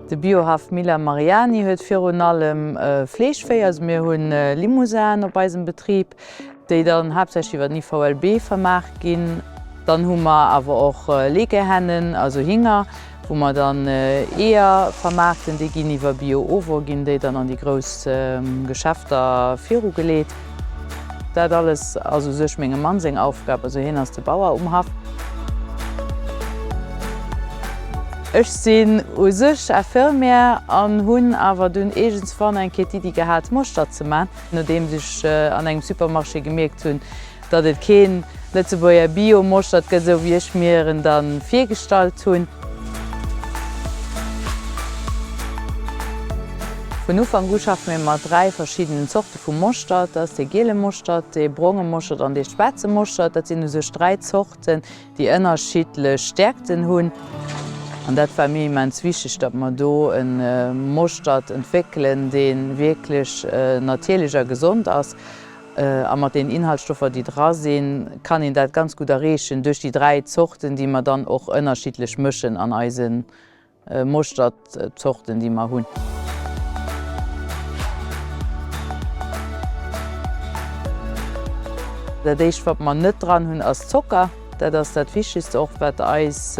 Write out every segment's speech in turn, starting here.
De Biohaff Miller Mariani huet virun allem Fleeschvéi, also mir hunn Limousin op eisem Betrib, déi dann haaptsächlech iwwer den IVLB vermaart ginn, dann hu mer awer och Legehennen, also Hinger, wou mer dann Eeër vermaarten, déi ginn iwwer Bio-ovo, ginn déi dann an déi grouss Geschäfter virugeleet. Dat alles ass u sech mengem Mann seng Aufgab, also hien ass de Bauer um Haff. Ech sinn u sech Infirmière an hunn awer dunn iergendswann eng Kéier d'Iddi gehat, Moschter ze man, Nodeems ech an engem Supermarché gemierkt hunn, datt et keen Lëtzebuerger Bio Moschtert gëtt, esou wéi ech mir en dann virgestallt hunn. Vun Ufank u schaffe mir mat 3 verschiddenen Zorte vu Moschtert. Dat ass dee giele Moschtert, dee bronge Moschtert an dee schwaarze Moschtert. Dat sinn u sech 3 Zorten, déi ënnerschiddlech Stäerkten hunn, an dat war mir immens wichteg, datt mer do e Moschtert entwéckelen, dee wierklech natierlech a gesond ass, a mat den Inhaltsstoffer, déi dra sinn, kann een dat ganz gutt erreechen duerch déi dräi Zorten, déi mer dann och ënnerschiddlech mëschen an eise Moschtertzorten déi mer hunn. Dat éischt wat mer net dran hunn ass Zocker. Dat ass dat wichtegst och wat eis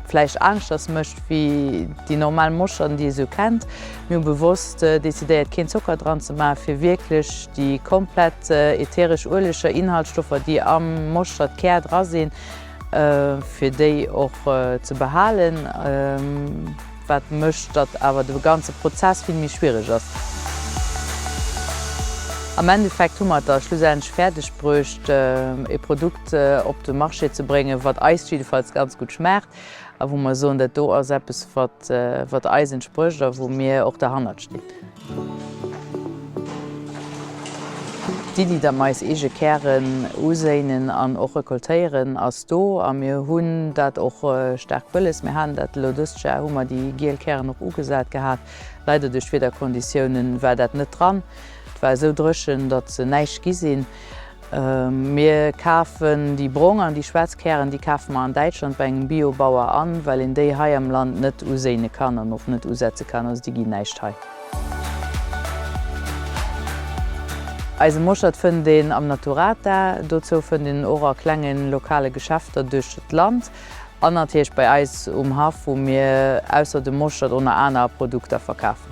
vläicht aneschters mécht wéi déi normal Moscherten déi ee sou kennt. Mir hu bewosst decidéiert keen Zocker dran ze maachen fir wierklech déi komplett ätheresch Ueleger, Inhaltsstoffer déi am Moschtertkär dra sinn, fir déi och ze behalen, wat mécht, datt awer de ganze Prozess vill méi schwiereg ass. Am Endeffekt hu mer et da schlussendlech fäerdeg bruecht, e Produkt op de Marché ze bréngen, wat eis jiddefalls ganz gutt schmaacht. a wou mer soen, dat do ass eppes, wat eis entsprécht a wou mir och derhannert stinn. D'Iddi, datt mer eis eege Kären uséinen an och recoltéieren, ass do a mir hunn dat och staark wëlles. Mir halen dat elo, dëst Jar hu mer déi giel Kären och ugesat gehat. Leider duerch d'Wiederkonditiounen war dat net dran. Et war esou dréchen, datt se näischt gi sinn. Mir kafen déi brong an déi schwaarz Kären, déi kafe mer an Däitschland bei engem Bio-Bauer an, well een déi hei am Land net uséine kann an och net usetze kann, also déi ginn näischt hei. Eise Moschert fënnt een am Naturata, dozou fënnt een en och a klengen lokale Geschäfter duerch d'Land. An natierlech bei eis um Haff, wou mir ausser dem Moschtert o na aner Produkter verkafen.